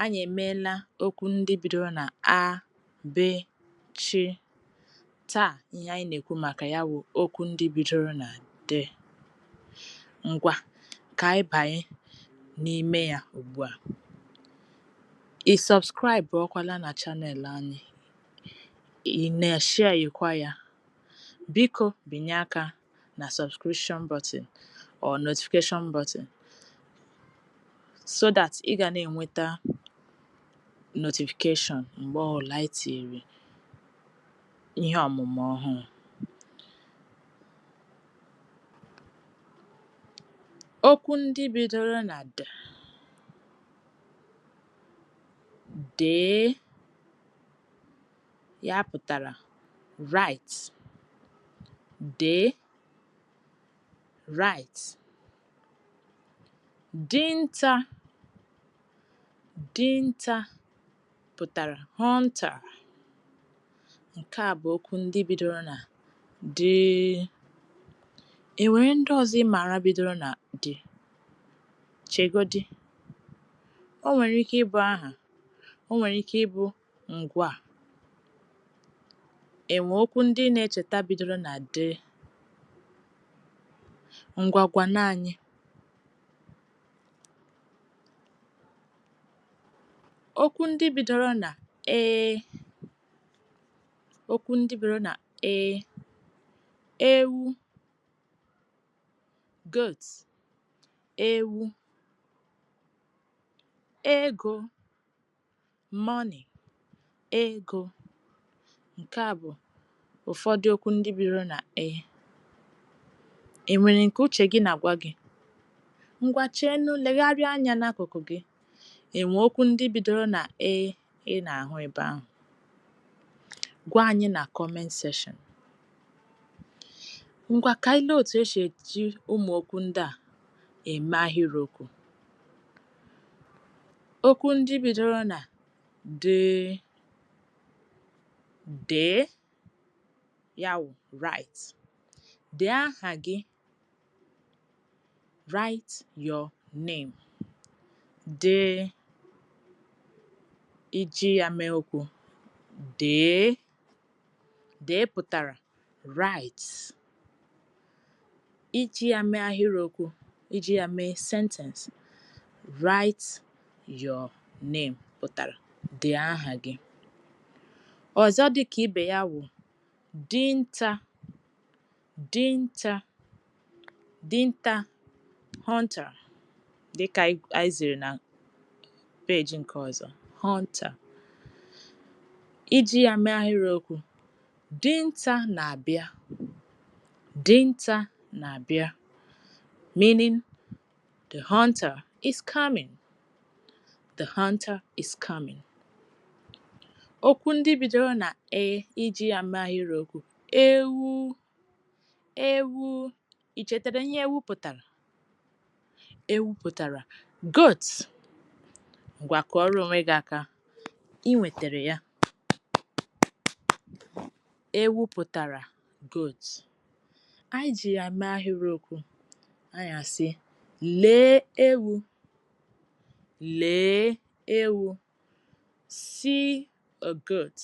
Anyị emeela okwu ndị bidoro na a, b, ch. Taa ihe anyị na-ekwu maka ya bụ okwu ndị bidoro na d. Ngwa ka anyị banye n'ime ya ugbu a. Ị sọbskraịbụọkwala na chanel anyị, ị na-eshiayekwa ya. Biko binye aka na subscription button or notification button so that ị ga na-enweta notification mgbe ọ bụla anyị tinyere ihe ọmụmụ ọhụrụ. Okwu ndị bidoro na d, dee Ya pụtara write, dee, write. Dinta, dinta pụtara hunter. Nke a bụ okwu ndị bidoro na d. E nwere ndị ọzọ ị maara bidoro na d? Chegodi. O nwere ike ịbụ aha, o nwere ike ịbụ Ngwaa. E nwee okwu ndị ị na-echeta bidoro na d, ngwa gwanụ anyị. Okwu ndị bidoro na e, okwu ndị bidoro na e, ewu, goat, ewu, ego. Money, ego, nke a bụ ụfọdụ okwu ndị bidoro na e. E nwere nke uche gị na-agwa gị? Ngwa cheenụ legharịa anya n'akụkụ gị, e nwee okwu ndị bidoro na e ị na-ahụ ebe ahụ? Gwa anyị na comment section. Ngwa ka anyị lee otu e shi eji ụmụ̀ okwu ndị a eme ahịrịokwu Okwu ndị bidoro na d, dee, ya wụ, write, Dee aha gị, write your name, dee, iji ya mee okwu, dee. Dee pụtara write. Iji ya mee ahịrịokwu, iji ya mee sentence, write your name pụtara dee aha gị. Ọzọ dị ka ibe ya wụ dinta. Dinta dinta hunter dịkà anyị zìrì nà page ǹkè ọ̀zọ hunter iji ya mee ahịrị okwu dinta nà-àbịa dinta nà-àbịa meaning the hunter is coming the hunter is coming okwu ndị bidoro nà E iji ya mee ahịrị okwu Ewu! Ewu! I chetara ihe ewu pụtara? Ewu pụtara Goat. Ngwa kụọrọ onwe gị aka. I nwetara ya. Ewu pụtara Goat. Anyị ji ya mee ahịrịokwu. Anyị asị, Lee ewu! Lee ewu! See a goat,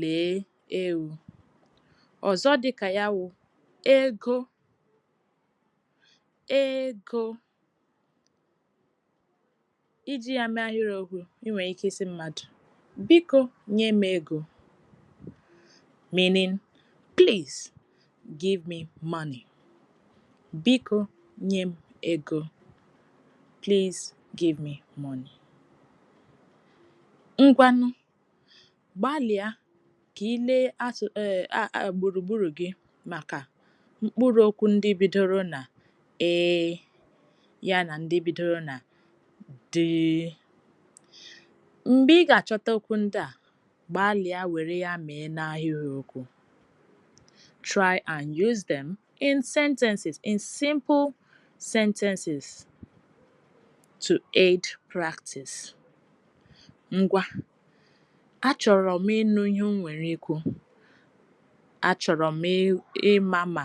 Lee ewu. Ọzọ dị ka ya wụ ego, ego. Iji ya mee ahịrịokwu, i nwere ike ịsị mmadụ, Biko nye m ego. Meaning, Please Give me money. Biko nye m ego. Please give me money. Ngwanụ, gbalịa ka ị lee gburugburu gị maka mkpụrụ okwu ndị bidoro na E ya na ndị bidoro na D. Mgbe ị ga-achọta okwu ndị a, Gbalịa were ya mee n'ahịrịokwu. Try and use them in sentences, in simple sentences to aid practice. Ngwa, achọrọ m ịnụ ihe i nwere ikwu. Achọrọ m ịma ma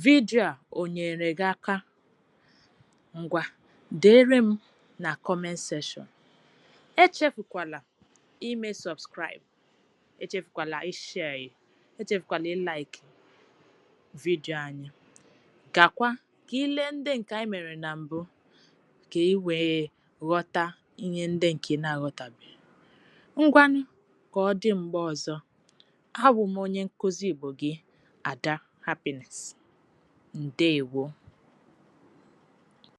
vidio a o nyeere gị aka. Ngwa, deere m na comment section. Echefukwala ime subscribe echefukwala ishare echefukwala ịlaiki vidio anyị gakwa ka i lee ndị nke anyị mere na mbụ ka ị wee ghọta ihe ndị nke ị na-aghọtabeghị ngwanụ ka ọ dị mgbe ọzọ abụ m onye nkụzi Igbo gị Ada Happiness ndeewo